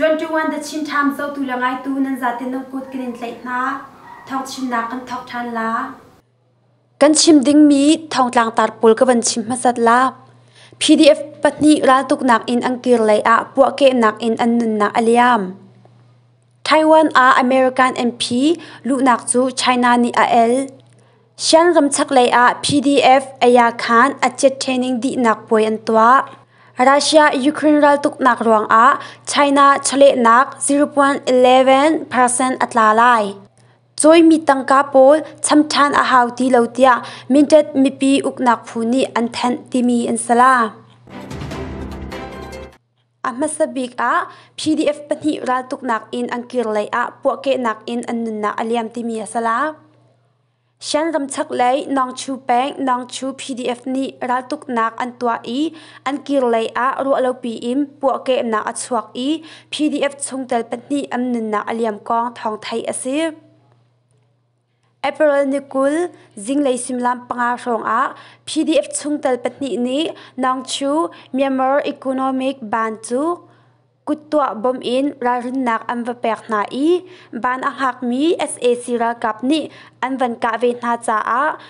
21 the Chin Times zohtu le ngaitu nan zatin nan kut kan in tlaih hna. Thawngchimnak kan thawk ṭhan la. Kan chim dingmi thongtlang tar pawl ka van chim hmasat la. PDF pahnih raltuknak in an kir lei ah puahkehnak in an nunnak a liam. Taiwan ah American MP luhnak cu China nih a el. Shan ramchak lei ah PDF Aya Khan a chet training dihnak puai an tuah. Russia Ukraine raltuknak ruang ah China chawlehnak 0.11% a tla lai. Cawimi tangka pawl cham ṭhan a hau ti lo tiah Mindat mipi uknak phu nih an thenh timi an si la. A hmasa bik ah PDF pahnih raltuknak in an kir lei ah puahkehnak in an nunnak a liam timi a si la. Shan ramchak lei Nongchu peng Nongchu PDF nih raltuknak an tuah i an kir lei ah ruahlopi in puahkehnak a chuak i PDF chungtel pahnih an nunnak a liam kong thawng theih a si. April ni kul zinglei simlam panga hrawngah PDF chungtel pahnih nih Nongchu Myanmar Economic Ban cu kuttuah bom in ralrinnak an va pek hna i ban a hngakmi SAC ralkap nih an van kah ve hna caah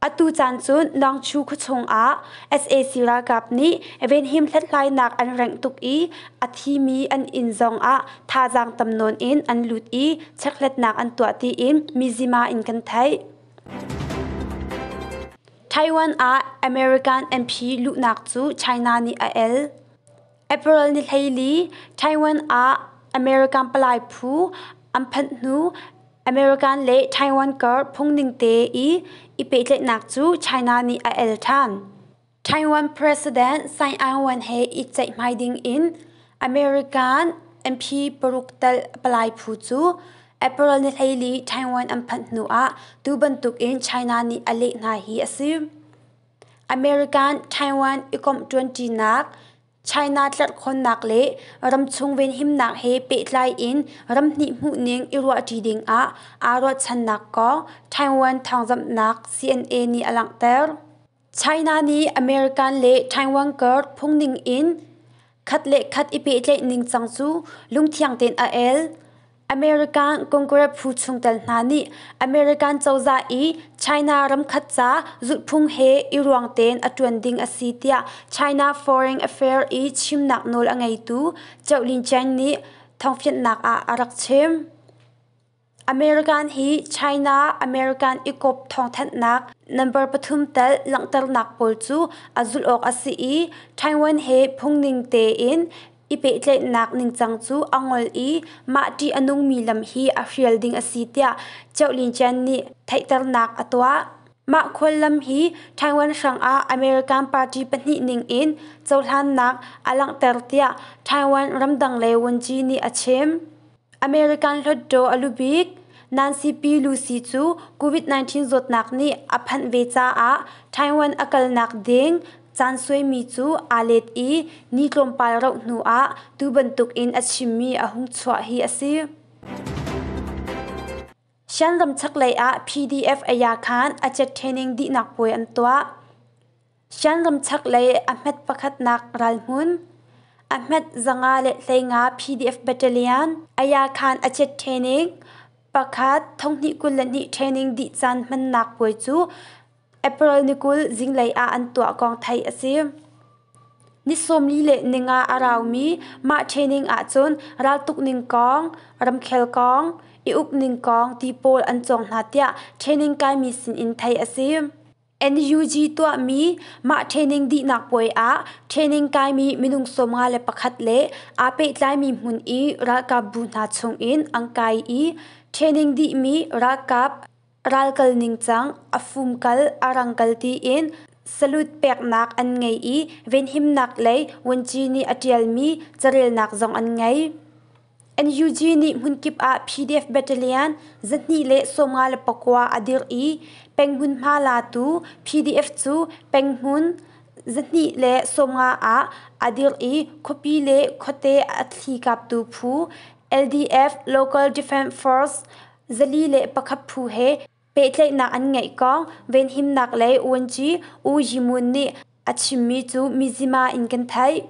Atu caan cu Nangchu khuachung ah sac ralkap nih venhim hlathlainak an rengh tuk i a thimi an inn zong ah thazaang tam nawn in an lut i checkhlatnak an tuah tiin Mizima in kan theih. Taiwan ah American MP luhnak cu China nih a el. April ni hleili Taiwan ah American palai phu an phanh hnu American le Taiwan kar phungning te i i pehtlaihnak cu China nih a el ṭhan. Taiwan President Tsai Ing-wen he i ceihmai ding in American MP paruk tal palai phu cu April ni hleili Taiwan an phanh hnu ah tu bantuk in China nih a leh hna hi a si. American Taiwan ikomh ṭuanṭinak, China tlerhkhawnnak le ramchung venhimnak he pehtlai in ramhnih hmuhning i ruahṭi dingah aa ruahchannak kong Taiwan thawngzamhnak CNN nih a langhter. China nih American le Taiwan kar phungning in khat le khat i pehtlaih ningcang cu lungthiang tein a el. American Congress phu chungtel hna nih American cozah i China ramkhat ca zulhphung he i ruang tein a ṭuan ding a si tiah China Foreign Affairs i chimnak nawl a ngeitu Qiao Lincang nih thawngfianhnak ah a rak chim. American hi China American ikawp thawngthanhnak number pathum tal langhternak pawl cu a zulh awk a si i Taiwan he phungning tein i pehtlaihnak ningcang cu a ngol i mah ṭih a nungmi lam hi a hrial ding a si tiah Ṭeu Lin Chen nih theihternak a tuah. Mah khuallam hi Taiwan hrangah American party pahnih ningin cohlannak a langhter tiah Taiwan ramdang le wunci nih a chim. American Hluttaw a lu bik Nancy Pelosi cu COVID-19 zawtnak nih a phanh ve caah Taiwan a kalnak ding caan suaimi cu aa let i ni tlawmpal rauh hnuah tu bantukin a chimmi a hung chuah hi a si. Sianlam chaklei ah PDF aya khan a cet ṭhening dihnak puai an tuah. Sianlam chaklei a hmet pakhatnak ralhmun a hmet zanga le hleinga PDF battalion aya khan a cet ṭhening pakhat thonghnih kul le hnih ṭhening dih caan hmannak puai cu April ni kul zinglei ah an tuah kong theih a si. Ni sawmli le ninga a raumi mah ṭhehning ahcun raltuk ning kong, ramkhel kong, i uk ning kong ti pawl an cawng hna tiah ṭhehning kaimi sinin theih a si. NUG tuahmi mah ṭhehning dihnak puai ah ṭhehning kaimi minung sawmnga le pakhat le aa pehtlaimi hmun i ralkapbu hna chungin an kai i ṭhehning dihmi ralkap Ral kal ningcang, a fum kal, a rang kal tiin salut peknak an ngei i venhimnak lei vuanci nih a ṭialmi carelnak zong an ngei. NUG nih hmunkip ah PDF battalion zahnih le sawmnga le pakua a dirh i penghmunhma latu PDF cu penghmun zahnih le sawmnga ah a dirh i khuapi le khuate a thli kaptu phu LDF Local Defence Force Zali le pakhat phu he pehtlaihnak an ngeih kong venhimnak lei ouanci U Yimun nih a chimmi cu mizim ah in kan theih.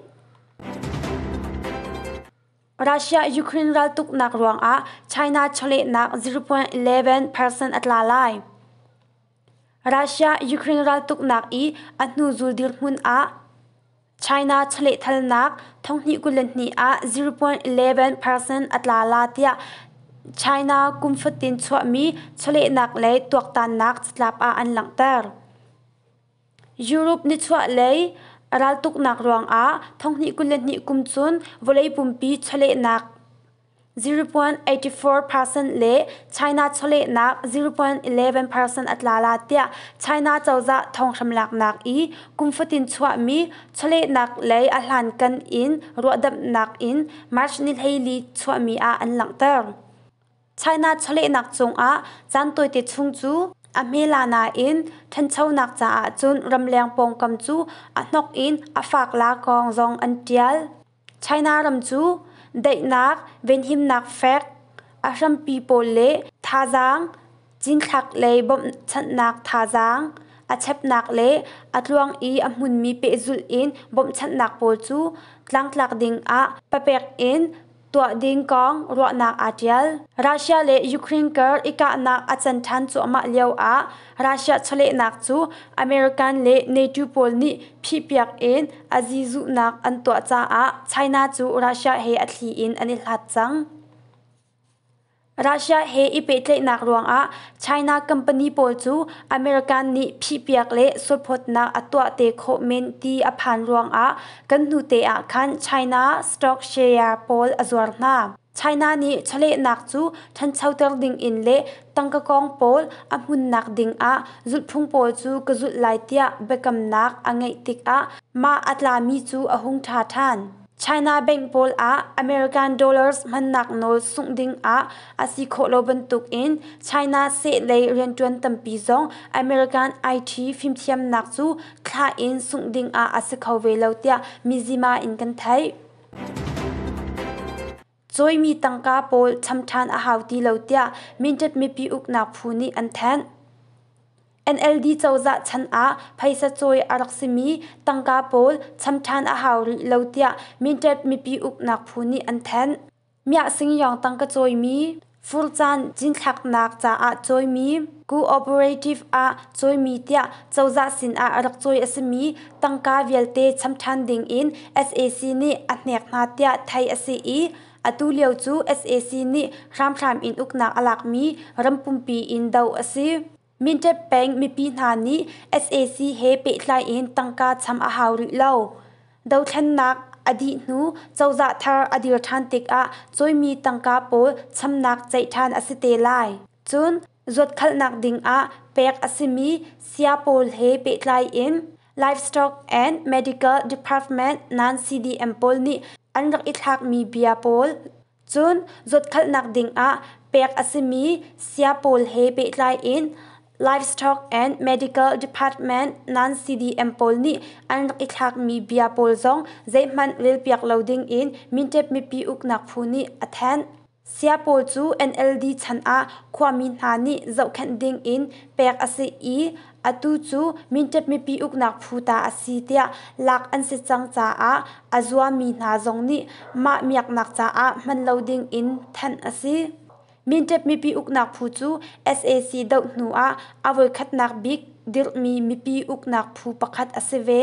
Russia-Ukraine raltuknak ruangah China chawlehnak 0.11% a tla lai. Russia Ukraine raltuknak i a hnuzul dirhmun ah China chalehthalnak thonghnih kul le hnih ah zero point eleven percent a tla la tiah China kum fatin chuahmi chawlehnak le tuaktannak catlap ah an langhter. Europe nichuahlei raltuknak ruangah thonghnih kul le hnih kum cun vawlei pumpi chawlehnak ziripuan eighty four percent le China chawlehnak ziripuan eleven percent a tlala tiah China cozah thonghram laknak i kum fatin chuahmi chawlehnak lei a hlankan in ruahdamhnak in March nihleili chuahmi ah an langhter. China chawlehnak cungah caan tawite chung cu a hmela nain ṭhanchonak caah cun ramleng pawngkam cu a hnok in a faak la kong zong an ṭial. China ram cu daihnak, venhimnak fek, a hrampi pawl le thazaang, cinthlak le bawmhchanhnak thazaang, a chepnak le a tluang i a hmunmi pehzulh in bawmhchanhnak pawl cu tlangtlak dingah papek in tuah ding kong ruahnak aa ṭial. Russia le Ukraine kar i kahnak a can ṭhan cuahmah lioah Russia chawlehnak cu American le NATO pawl nih phihpiak in a zizuhnak an tuah caah China cu Russia he a thli in an i hlat cang. Russia he i pehtlaihnak ruangah China company pawl cu American nih phihpiak le sulphawtnak a tuah te khawh men ti a phan ruangah kan hnute ah khan China stock share pawl a zuar hna. China nih chawlehnak cu ṭhanchoter dingin le tangkakawng pawl a hmunnak dingah zulhphung pawl cu ka zulh lai tiah biakamnak a ngeih tikah mah a tlami cu a hung ṭha ṭhan. China bank pawl ah American dollars hmannak nawl sungh dingah a si khawh lo bantukin China sehlei rianṭuan tampi zong American IT fimthiamnak cu thlah in sungh dingah a si kho ve lo tiah mizima in kan theih. Cawimi tangka pawl cham ṭhan a hau ti lo tiah Mindat mipi uknak phu nih an thanh. NLD cozah chan ah phaisa cawi a rak simi tangka pawl cham ṭhan a hau rih lo tiah Mindat mipi uknak phu nih an thanh. Miahsingyawng tang ka cawimi, fur caan cinthlaknak caah cawimi, cooperative ah cawimi tiah cozah sinah rak cawi a simi tangka vialte cham ṭhan dingin sac nih a hnek hna tiah theih a si i atu lio cu sac nih hramhram in uknak a lakmi ram pumpi in doh a si. Minṭep peng mipi hna nih sac he pehtlai in tangka cham a hau rih lo. Dothlennak a dih hnu cozah thar a dir ṭhan tikah cawimi tangka pawl chamnak ceih ṭhan a si te lai. Cun zuatkhalhnak dingah pek a simi saya pawl he pehtlai in Livestock and Medical Department nan CDM pawl nih an rak i thlakmi bia pawl Cun zutkhalhnak dingah pek a simi sia pawl he pehtlai in Livestock and Medical Department nan CDM pawl nih an rak i thlakmi bia pawl zong zeihmanh relpiak lo dingin Mintep mipi uknak phu nih a thanh. Sia pawl cu NLD chan ah khuami hna nih zohkhenh dingin pek a si i Atu cu Minṭhat mipi uknak phu ta a si tiah lak an si cang caah a zuammi hna zong nih mah miaknak caah hman lo ding in thanh a si. Minṭhat mipi uknak phu cu sac doh hnu ah a voikhatnak bik dirhmi mipi uknak phu pakhat a si ve.